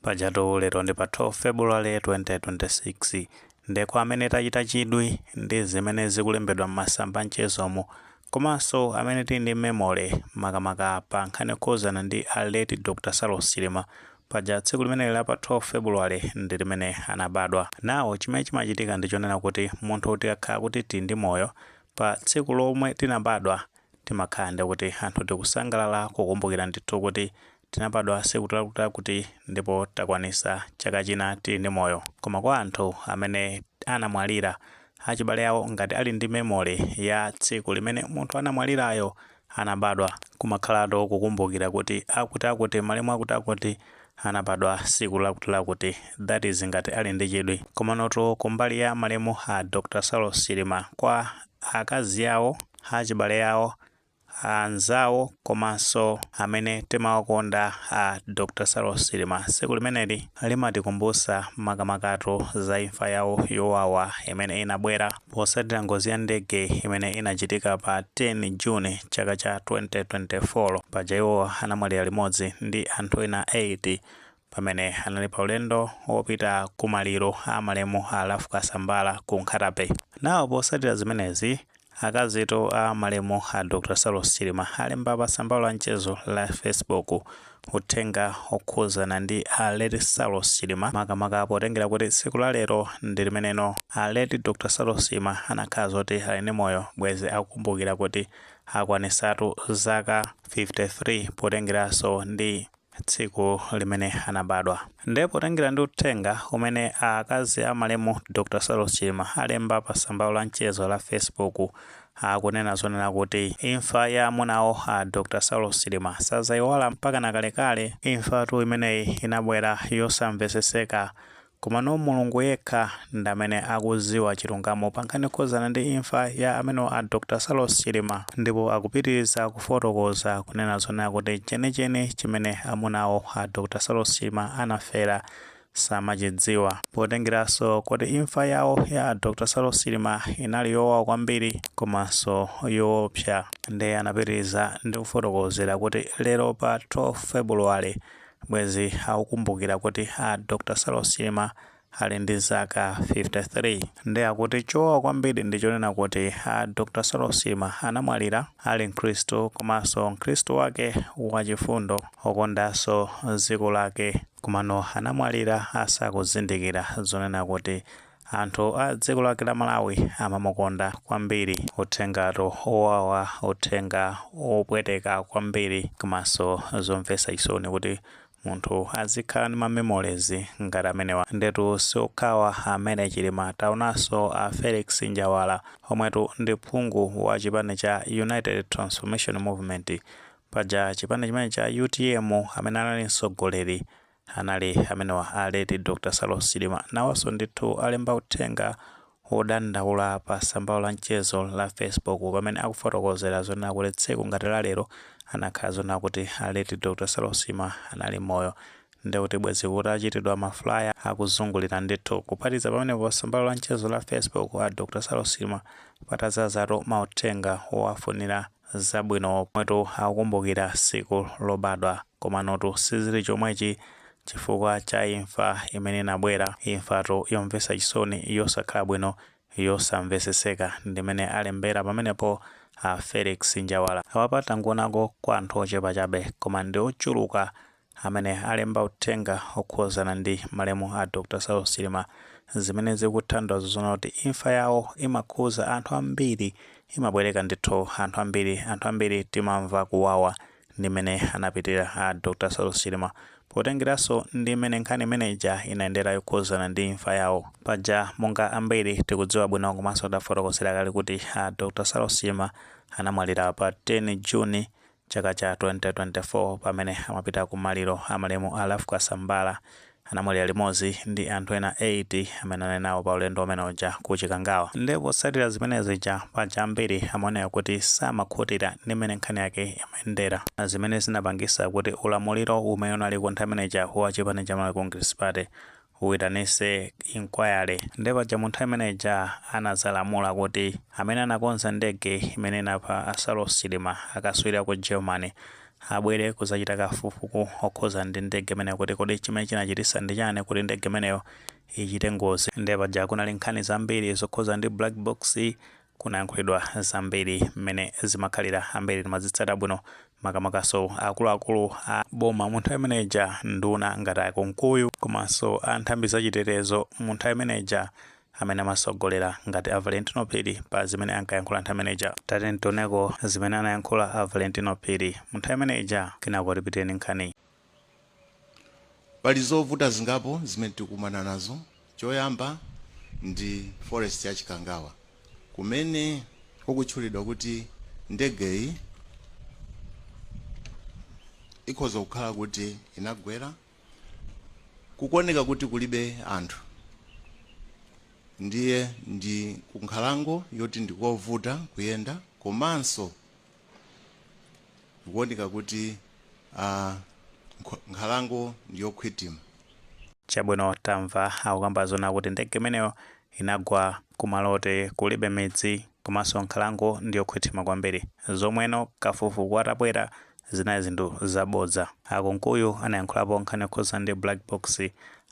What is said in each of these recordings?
pajatu lero ndi pa 12 february 2026 nde kwa amene tachita chidwi ndi zimene zikulembedwa m'masamba a mchezomu komanso amene tili ndi memory makamaka pa nkhani yokhuzana ndi a late dr saulos chilima paja tsiku limeneli la pa 12 february ndi limene anabadwa nawo chimene chimachitika ndi chonena kuti munthu tikakhala kuti tili ndi moyo pa tsiku lomwe tinabadwa timakhala ndi kuti anthu tikusangalala kukumbukira ndithu kuti Tinabadwa siku lakutilakuti ndipo takwanisa chaka china tili ndi moyo koma kwa anthu amene anamwalira achibale awo ngati ali ndi memory ya tsiku limene munthu anamwalirayo anabadwa kumakhalatu kukumbukira kuti akuti akuti malemu akuti akuti anabadwa siku lakutilakuti that is ngati ali ndi chidwi komanotu kumbali ya malemu a Dr Saulos Chilima kwa akazi awo achibale awo anzawo komanso amene timawakonda a Dr. Saulos Chilima. Tsiku limeneli limatikumbutsa makamakatu za imfa yawo yowawa imene inabwera potsatira ngozi ya ndege imene inachitika pa 10 June chaka cha 2024. Paja iwo anamwalira limodzi ndi anthu ena 8 pamene anali pa ulendo wopita ku maliro a malemu a Ralph Kasambara ku Nkhata-bay. Nawo potsatira zimenezi, akazitu a malemu a Dr Saulos Chilima alemba pa tsamba lawo la mchezo la Facebook uthenga okhuzana ndi a late Saulos Chilima makamaka potengera kuti tsiku la lero ndi limeneno a late Dr Saulos Chilima anakhala zoti ali ndi moyo bwezi akukumbukira kuti akwanitsatu zaka 53 potengeraso ndi tsiku limene anabadwa. Nde potengera ndi uthenga umene akazi a malemu Dr Saulos Chilima alemba pa tsamba lawo la mchezo la Facebook, akunena zonena kuti imfa ya amuna awo a Dr Saulos Chilima sadzaiwala mpakana kalekale. Imfatu imeneyi inabwera yosamveseseka Komano mulungu yekha ndamene akuziwa chilungamo pankhani yokhuzana ndi imfa ya amunawo a Dr Saulos Chilima ndipo akupitiliza kufotokoza kunena zonena kuti chenicheni chimene amunawo a Dr Saulos Chilima anafera samachidziwa potengeraso kuti imfa yawo ya a Dr Saulos Chilima inali yowawa kwambiri komaso yowopsa nde anapitiliza ndikufotokozera kuti lero pa 12 February Bwezi akukumbukira kuti a Dr Saulos Chilima ali ndi zaka 53. Nde akuti chowawa kwambiri ndi chonena kuti a Dr Saulos Chilima anamwalira ali mkhristu komanso mkhristu wake wachifundo okondanso dziko lake. Komano anamwalira asakuzindikira zonena kuti Anthu a dziko lake la Malawi amamukonda kwambiri uthengatu owawa uthenga opweteka kwambiri komanso zomvesa chisoni kuti munthu azikhala ndi ma memories ngati amenewa ndetu siokhawa amemer Chilima taonanso a Felix Njawala omwetu ndi phungu wa chipani cha United Transformation Movement paja chipani chimene cha utm amene anali mtsogoleri Anali amenewa a late Dr Saulos Chilima nawonso ndithu alemba uthenga wodandaula pa tsambalo la mchezo la Facebook pamene akufotokozera zonena kuti tsiku ngati la lero anakhala zonena kuti a late Dr Saulos Chilima anali moyo nde kuti bwezi kutachititidwa ma flyer akuzungulira ndithu. Kuphatikiza pamenepo pa tsambalo la mchezo la Facebook a Dr Saulos Chilima patadzazatu mauthenga owafunira Zabwino pomwetu akukumbukira siku lobadwa komanotu sizili chomwechi chifukwa cha imfa imene inabwera, imfatu yomvesa chisoni yosakhala bwino yosamveseseka ndimene alembera pamenepo a Felix Njawala. Awa tangoonako kwa anthu ochepa chabe koma ndiochuluka amene alemba uthenga okhuzana ndi malemu a Dr Saulos Chilima zimene zikutanthauza zona kuti imfa yawo imakhuza anthu ambiri imabwereka ndithu anthu ambiri anthu ambiri timamva kuwawa ndi mene anapitira a Dr Saulos Chilima potengeraso ndi mene nkhani imene ija inayendera yokhuzana ndi imfa yawo paja monga ambiri tikudziwa bwino komanso tafotokozera kale kuti a Dr Saulos Chilima anamwalira pa 10 June Chaka cha 2024 pamene amapita ku maliro a malemu a Ralph Kasambara, anamwalira limodzi ndi anthu ena 8 amene anali nawo pa ulendo umene uja ku Chikangawa. Nde potsatira zimene zija, paja ambiri amaoneka kuti samakhutira ndi mmene nkhani yake imayendera, zimene zinapangitsa kuti ulamuliro umene unaliko nthawi imene ija wa chipani cha Malawi Congress Party Uyitanise inquiry nde paja munthawi imene ija anazalamula kuti amene anakonza ndege imene inapha a Saulos Chilima akaswiri aku Germany abwere kuzachita kafukufuku okhuza ndi ndege imeneyo kuti kodi chimene chinachitisa ndi chani kuti ndege imeneyo ichite ngozi nde paja kunali nkhani zambiri zokhuza ndi black box Kunayankhulidwa zambiri mmene zimakhalira ambiri timazitsata bwino makamakanso akuluakulu a boma munthawi imene ija nduna ngati a Kunkuyu komanso a nthambi za chitetezo munthawi imene ija amene amatsogolera ngati a Valentino Phiri pa zimene ankayankhula nthawi imene ija. Tatiyeni tioneko zimene anayankhula a Valentino Phiri munthawi imene ija kenako tipitire ndi nkhani. Pali zovuta zingapo zimene tikumana nazo. Choyamba ndi forest ya Chikangawa kumene kukutchulidwa kuti ndegeyi ikhoza kukhala kuti inagwera. Kukuoneka kuti kulibe anthu ndiye ndi kunkhalango yoti ndi kovuta kuyenda komanso. Zikuoneka kuti a nkhalango ndi yokhwithima. Chabwino tamva akukamba zona kuti ndege imeneyo inagwa kumalo oti kulibe midzi komanso nkhalango ndi yokhwithima kwambiri zomweno kafukufuku atabwera zinali zinthu zabodza. A Kunkuyu anayankhulapo nkhani yokhudza ndi black box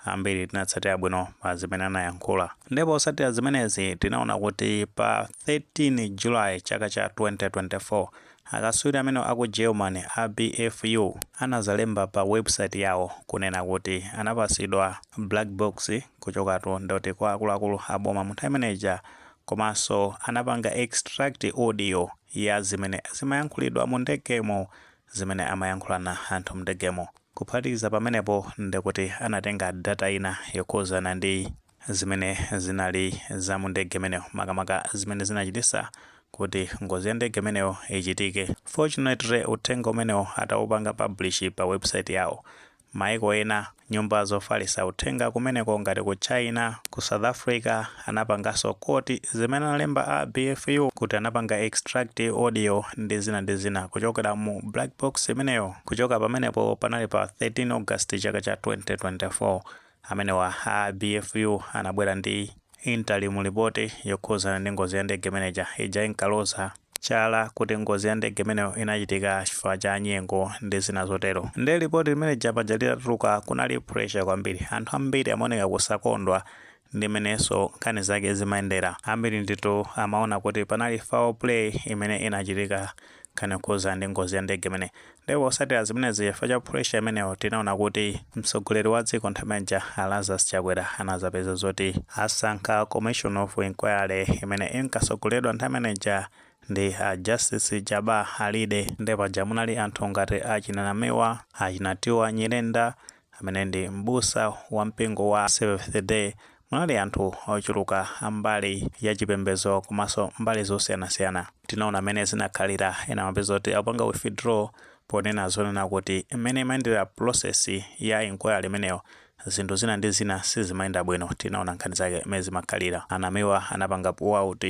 Ambiri tinatsatira bwino pa zimene anayankhula, ndipo potsatira zimenezi tinaona kuti pa 13 July chaka cha 2024, akatswiri amene a ku Germany a BFU anazalemba pa webusaiti yawo kunena kuti anapasidwa black box kuchokatu ndoti kwa akuluakulu a boma mu nthawi imeneija komanso anapanga extract audio ya zimene zimayankhulidwa mu ndegemo zimene amayankhulana anthu mndegemo. Kuphatikiza pamenepo ndi kuti anatenga data ina yokhuzana ndi zimene zinali za mu ndege imeneyo makamaka zimene zinachitisa kuti ngozi ya ndege imeneyo ichitike. Fortunately uthenga umenewo atawupanga publish pa website yawo Maiko ena nyumba zofalisa uthenga kumeneko ngati ku China, ku South Africa anapanganso quote zimene analemba a BFU kuti anapanga extract audio ndi zina ndi zina kuchokera mu black box imeneyo kuchoka pamenepo panali pa 13 August chaka cha 2024. Amenewa a BFU anabwera ndi interim report yokhuzana ndi ngozi ya ndege imeneija. Ija inkaloza chala kuti ngozi ya ndege imeneyo inachitika chifukwa cha nyengo ndi zina zotero. Nde report limeneija paja litatuluka kunali pressure kwambiri. Anthu ambiri amaoneka kusakondwa ndi mmenenso nkhani zake zimayendera. Ambiri ndithu amaona kuti panali foul play imene inachitika nkhani yokhuza ndi ngozi ya ndege imeneyi ndipo posatira zimenezi chifukwa cha pressure imeneyo tinaona kuti mtsogoleri wa dziko nthawi imeneija a Lazarus Chakwera anazapeza zoti asankha commission of inquiry imene inkatsogoleredwa nthawi imeneija ndi a Justice Jabbar Alide ndipo paja munali anthu ngati achina Namiwa achina Tiwa Nyirenda amene ndi mbusa wa mpingo wa Seventh Day Munali anthu ochuluka a mbali ya chipembezo komanso mbali zosiyanasiyana. Tinaona mmene zinakhalira, ena amapeza kuti apanga withdraw ponena zonena kuti mmene imayendera process ya inquiry imeneyo zinthu zina ndi zina sizimayenda bwino. Tinaona nkhani zake mmene zimakhalira. A Namiwa anapanga pull out.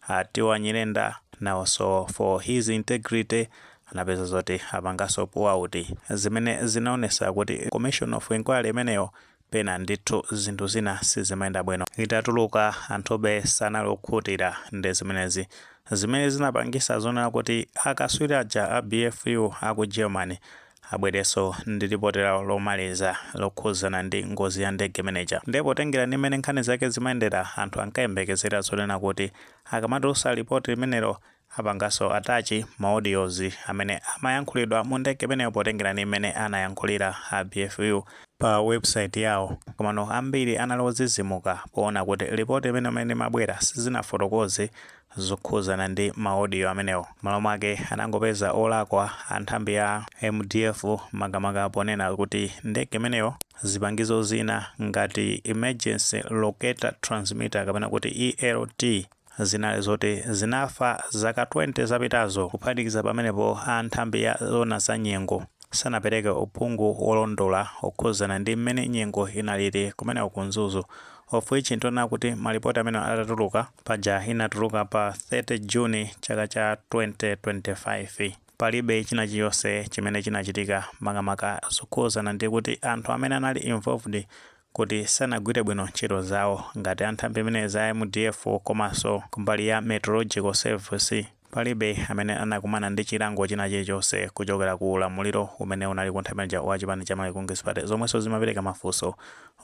A Tione Nyirenda nawonso for his integrity anapeza zoti apangenso pull out zimene zinaonetsa kuti commission of inquiry imeneyo Pena ndithu zinthu zina sizimayenda bwino. Itatuluka, anthube sanali okhutira ndi zimenezi. Zimene zinapangisa zonena kuti akaswiri aja a BFU a ku Germany abwerenso ndi lipoti lawo lomaliza lokhuzana ndi ngozi ya ndege imene ija. Ndiye potengera ndi m'mene nkhani zake zimayendera, anthu ankayembekezera zonena kuti akamatulusa lipoti limenelo, Apangenso attach ma audios amene amayankhulidwa mu ndege imeneyo potengera ndi mmene anayankhulira a BFU pa website yawo. Komano ambiri anali odzidzimuka poona kuti report imene mmene imabwera sinafotokoze zokhuzana ndi ma audio amenewo. Mmalo mwake anangopeza olakwa a nthambi ya mdf makamaka ponena kuti ndege imeneyo zipangizo zina ngati emergency locator transmitter kapena kuti ELT, zinali zoti zinafa zaka 20 zapitazo. Kuphatikiza pamenepo, a nthambi ya zoona za nyengo sanapereke uphungu wolondola wokhudzana ndi mmene nyengo inalili kumeneko ku Mzuzu, of which tinaona kuti malipoti amenewa atatuluka, paja inatuluka pa 30 June chaka cha 2025, palibe china chilichonse chimene chinachitika makamaka zokhudzana ndi kuti anthu amene anali involved kuti sanagwire bwino ntchito zawo ngati a nthambi zimenezi za mdf komanso kumbali ya Meteorological Service palibe amene anakumana ndi chilango china chilichonse kuchokera ku ulamuliro umene unaliko nthawi imene ija wa chipani cha Malawi Congress Party zomwenso zimapereka mafunso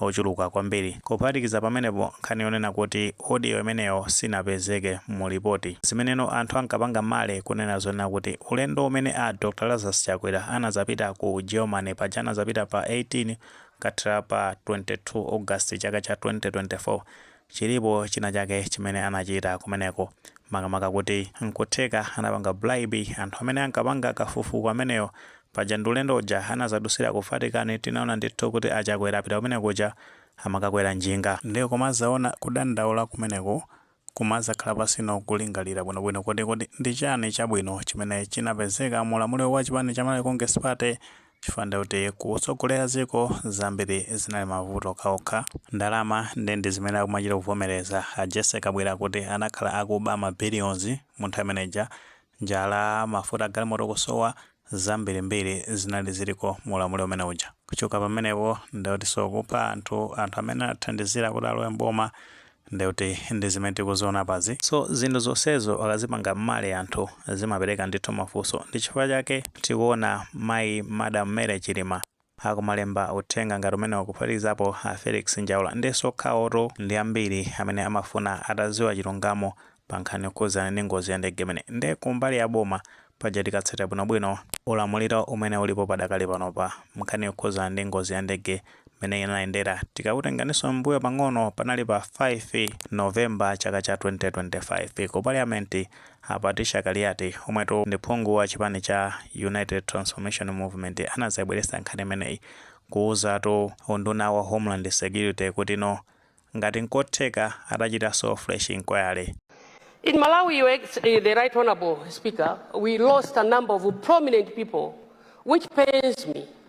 ochuluka kwambiri. Kuphatikiza pamenepo nkhani yonena kuti audio imeneyo sinapezeke mu report ndi zimeneno anthu ankapanga mare kunena zonena kuti ulendo umene a Dr Lazarus Chakwera anazapita ku Germany paja anazapita pa 18 Kathera pa 22 August chaka cha 2024. Chilipo china chake chimene anachita kumeneko. Makamaka kuti nkutheka anapanga bribe anthu amene ankapanga kafukufuku ameneyo. Paja ndi ulendo uja anazadusira ku Vatican tinaona ndithu kuti a Chakwera apita kumene kuja amakakwera njinga. Ndiye kumazaona kudandaula kumeneko Kumadzakhala pansi ndi kulingalira bwinobwino kuti, Kodi ndi chiyani chabwino chimene chinapezeka mu ulamuliro wa chipani cha Malawi Congress Party? Chifukwa ndiye kuti kutsogolera dziko zambiri zinali mavuto okhaokha. Ndalama ndiye ndi zimene akumachita kuvomereza. A Jessy Kabwila kuti anakhala akuba ma billions mu nthawi imene ija. Njala, mafuta agalimoto kusowa, zambirimbiri zinali ziliko mu ulamuliro umene uja. Kuchoka pamenepo ndiye kutinso kupha anthu, anthu amene anathandizira kuti alowe m'boma ndiye kuti ndi zimene tikuziona apazi. So zinthu zonsezo akazipanga mmalo anthu zimapereka ndithu mafunso. Ndi chifukwa chake tikuona mayi Madam Mary Chilima akumalemba uthenga ngati umenewo kuphatikizapo a Felix Njawala nde si okhawotu ndi ambiri amene amafuna ataziwa chilungamo pa nkhani yokhudzana ndi ngozi ya ndege imeneyi nde kumbali ya boma paja tikatsata bwino bwino ulamuliro umene ulipo padakali pano pa nkhani yokhudzana ndi ngozi ya ndege mmene inayendera tikakutenganinso mmbuyo pang'ono panali pa 5 November chaka cha 2025 ku parliament A Patricia Kaliati, omwetu ndi phungu wa chipani cha United Transformation Movement anazayibweretsa nkhani imeneyi kuwuzatu unduna wa Homeland Security kutino ngati nkotheka atachitanso fresh inquiry. In Malawi, the Right Honourable Speaker, we lost a number of prominent people which pains me.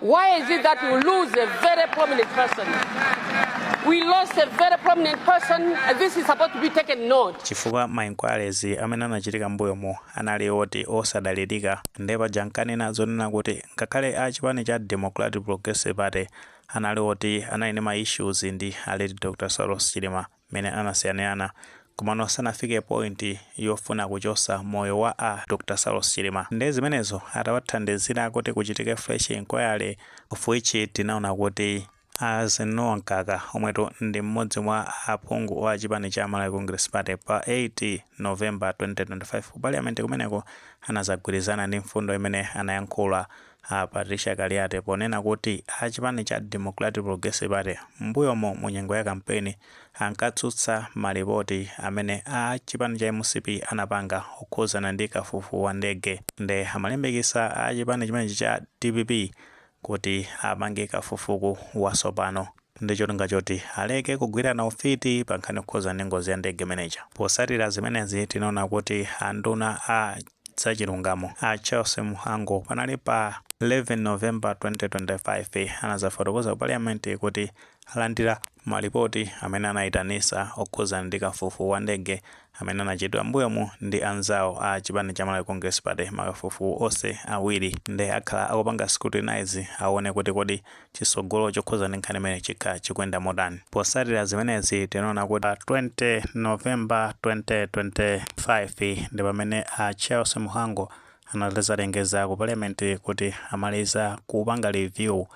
Why is it that we lose a very prominent person? We lost a very prominent person, and this is supposed to be taken note. chifukwa ma inquiries amene anachitika mbuyomo anali oti osadalirika nde paja nkanena zonena kuti ngakhale a chipani cha democratic progressive party anali oti anali ndi ma issues ndi a late dr saulos chilima mmene anasiyanirana komano sanafike point yofuna kuchosa moyo wa a Dr Saulos Chilima nde zimenezo atawathandizira kuti kuchitike fresh inquiry of which tinaona kuti Eisenhower Mkaka omwetu ndi mmodzi mwa aphungu a chipani cha Malawi Congress Party pa 8 November 2025 ku parliament kumeneko anazagwirizana ndi mfundo imene anayankhula A Patricia Kaliati ponena kuti a chipani cha Democratic Progressive Party m'mbuyomo mu nyengo ya kampeni ankatsutsa malipoti amene a chipani cha mcp anapanga okhuzana ndi kafukufuku wa ndege nde amalimbikisa a chipani chimenechi cha dpp kuti apange kafukufuku wasopano. ndi cholinga choti aleke kugwirana ufiti pa nkhani yokhudzana ndi ngozi ya ndege imeneja. Potsatira zimenezi, tinaona kuti anduna a zachilungamo a Charles Mhango panali pa 11 November 2025 anadzafotokoza ku Paliyamenti kuti alandira malipoti amene anaitanitsa okhudzana ndi kafukufuku wa ndege amene anachitidwa m'mbuyomu ndi anzawo a chipani cha Malawi Congress Party. Makafukufuku onse awiri ndiye akhala akupanga scrutinize aone kuti kodi chitsogolo chokhudzana ndi nkhani imeneyi chikhala chikuyenda motani. Potsatira zimenezi, tinaona kuti 20 November 2025 ndi pamene a Charles Mhango anadzalengeza ku Parliament kuti amaliza kupanga review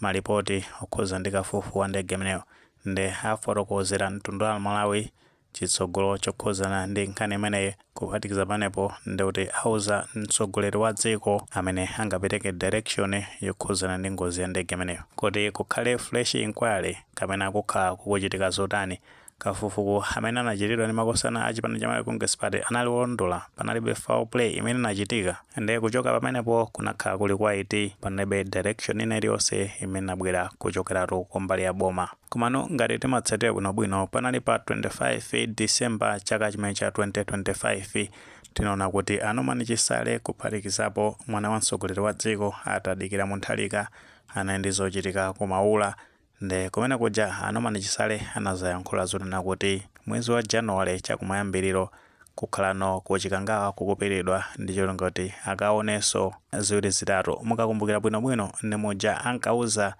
malipoti okhudzana ndi kafukufuku wa ndege imeneyo nde afotokozera mtundu wa Amalawi chitsogolo chokhuzana ndi nkhani imeneyi. Kuphatikiza pamenepo ndikuti auza mtsogoleri wa dziko amene angapereke direction yokhuzana ndi ngozi ya ndege imeneyo. Kuti kukhale fresh inquiry kapena kukhala kukuchitika zotani? Kafukufuku amene anachitidwa ndi makosana a chipani cha Malawi Congress Party anali wolondola? Panalibe foul play imene inachitika? Nde kuchoka pamenepo kunakhala kuli quiet panalibe direction ina iliyonse imene inabwera kuchokeratu kumbali ya boma. Komano ngati timatsatira bwinobwino, panali pa 25 December chaka chimene cha 2025, tinaona kuti a Norman Chisale kuphatikizapo mwana wa mtsogoleri wa dziko a Tadikira Mutharika anali ndi zochitika ku Maula nde kumene kuja a Norman Chisale anazayankhula zonena kuti mwezi wa January chakumayambiliro kukhalano ku Chikangawa kukupitidwa ndi cholinga choti akaonenso ziwiri zitatu. Mukakumbukira bwinobwino ndi muja ankauza.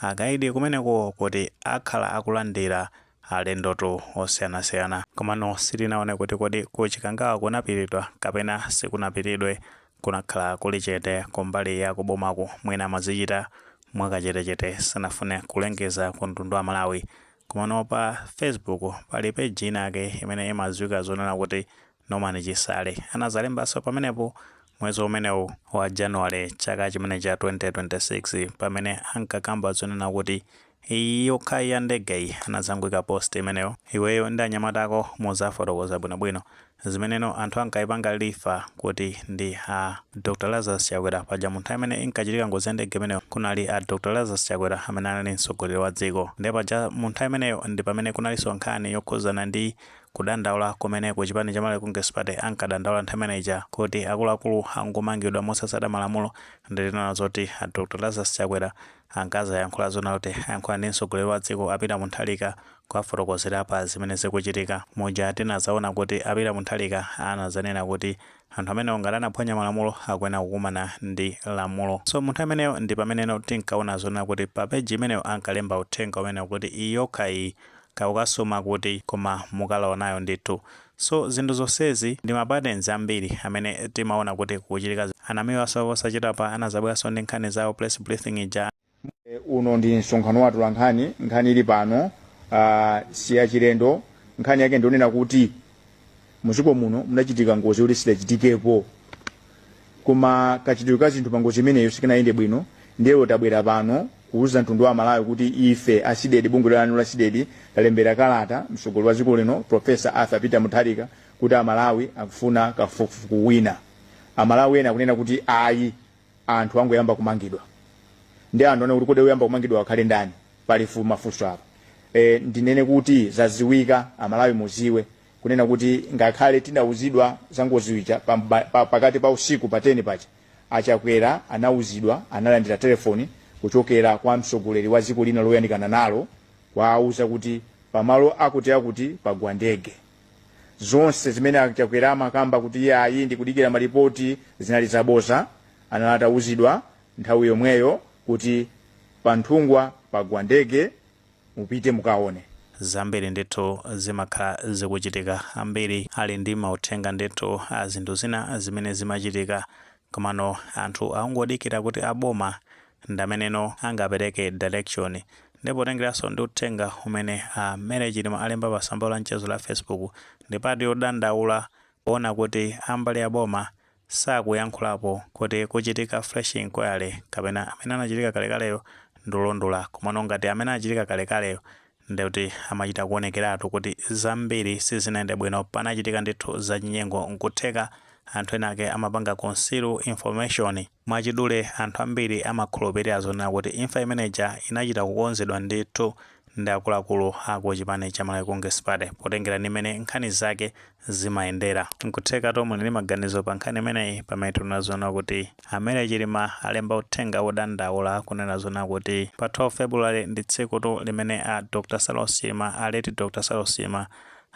akaidi kumeneko kuti akhala akulandira alendotu osiyanasiyana. Komano sitinaone kuti kodi ku Chikangawa kunapiridwa kapena sikunapiridwe. Kunakhala kuli chete kumbali ya kubomaku. Mwina amazichita mwakachetechete sanafune kulengeza ku mtundu wa Malawi. Komano pa Facebook pali page inayake imene imadziwika zonena kuti Norman Chisale anadzalembanso pamenepo mwezi umenewu wa January chaka chimene cha 2026 pamene ankakamba zonena kuti iyi yokhayi ya ndegeyi anadzangoika post imeneyo iweyo ndi anyamata ako mudzafotokoza bwinobwino zimeneno anthu ankaipanga refer kuti ndi a Dr Lazarus Chakwera paja munthawi imene inkachitika ngozi ya ndege imeneyo kunali a Dr Lazarus Chakwera amene anali mtsogoleri wa dziko nde paja mu nthawi imeneyo ndi pamene kunalinso nkhani yokhudzana ndi Kudandaula kumene ku chipani cha Malawi Congress Party ankadandaula nthawi imene ija kuti akuluakulu angomangidwa mosatsata malamulo nde tinaona zoti a Dr Lazarus Chakwera ankazayankhula zona kuti ayankhula ndi mtsogoleri wa dziko a Peter Mutharika kuwafotokozera pa zimene zikuchitika muja tinazaona kuti a Peter Mutharika anazanena kuti anthu amenewo ngati anaphwanya malamulo akuyenera kukumana ndi lamulo so munthawi imeneyo ndi pameneno tinkaona zonena kuti pa page imeneyo ankalemba uthenga umenewo kuti iyi yokha iyi kaya ukasuma kuti koma mukalawa nayo ndithu so zinthu zonsezi ndi ma patterns ambiri amene timaona kuti kukuchitika zi- a Namiwanso posachedwapa anazabweranso ndi nkhani zawo press briefing ija E, uno ndi msonkhano wa atolankhani nkhani ili pano ah, si yachilendo nkhani yake ndi yonena kuti muziko muno munachitika ngozi yoti sidachitikepo koma kachitidwe ka zinthu pa ngozi imeneyo sikanayende bwino ndiye lero tabwera pano kuwuza mtundu wa malawi kuti ife a CDEDI bungwe lanu la CDEDI talembera kalata mtsogoleri wa dziko lino profesa arthur peter mutharika kuti amalawi akufuna kafukufuku wina amalawi ena akunena kuti ayi anthu angoyamba kumangidwa nde anthu anena kuti kodi oyamba kumangidwa akhale ndani pali fu mafunso apa e, ndinene kuti zaziwika aMalawi muziwe kunena kuti ngakhale tidauzidwa za ngozi ija pa, mba- pa, pakati pa usiku pa 10 paja a Chakwera anauzidwa analandira telefoni kuchokera kwa mtsogoleri wa dziko lina loyandikana nalo kuwauza kuti pamalo akutiakuti pagwa ndege zonse zimene a Chakwera amakamba kuti iye ayi ndikudikira malipoti zinali zaboza anali atawuzidwa nthawi yomweyo kuti pa Nthungwa pagwa ndege mupite mukaone zambiri ndithu zimakhala zikuchitika ambiri ali ndi mauthenga ndithu a zinthu zina zimene zimachitika Komano anthu akungodikira kuti a boma ndi ameneno angapereke direction. Nde potengeranso ndi uthenga umene a Mary Chilima alemba pa tsamba la mchezo la Facebook, ndi part yodandaula poona kuti a mbali ya boma sakuyankhulapo kuti kuchitika fresh inquiry kapena amene anachitika kalekaleyo ndi olondola. Komano ngati amene anachitika kalekaleyo Ndikuti amachita kuonekeratu kuti zambiri sizinayende bwino panachitika ndithu zachinyengo nkutheka anthu ena ake amapanga conceal information. Mwachidule anthu ambiri amakhulupirira zonena kuti imfa imeneija inachita kukonzedwa ndithu ndi akuluakulu aku chipani cha Malawi Congress Party potengera ndi mmene nkhani zake zimayendera. Nkuthekatu muli ndi maganizo pa nkhani imeneyi pamene tikunena zonena kuti a Mary Chilima alemba uthenga wodandaula kunena zonena kuti pa 12 February ndi tsikutu limene a Dr Saulos Chilima, a late Dr Saulos Chilima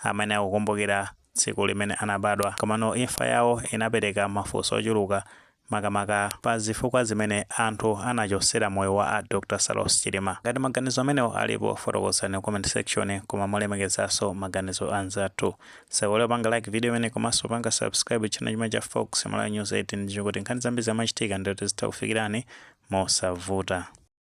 amayenera kukumbukira tsiku limene anabadwa. Komano imfa yawo inapereka mafunso ochuluka makamaka pa zifukwa zimene anthu anachosera moyo wa a Dr Saulos Chilima. Ngati maganizo amenewo alipo, fotokozani ku comment section koma molemekezanso maganizo a anzathu. Osaiwala kupanga like video imeneyi komanso kupanga subscribe channel imene cha Fox Malawi News 18 ndi cholinga kuti nkhani zambiri zikamachitika ndiye tizitha kukufikirani mosavuta.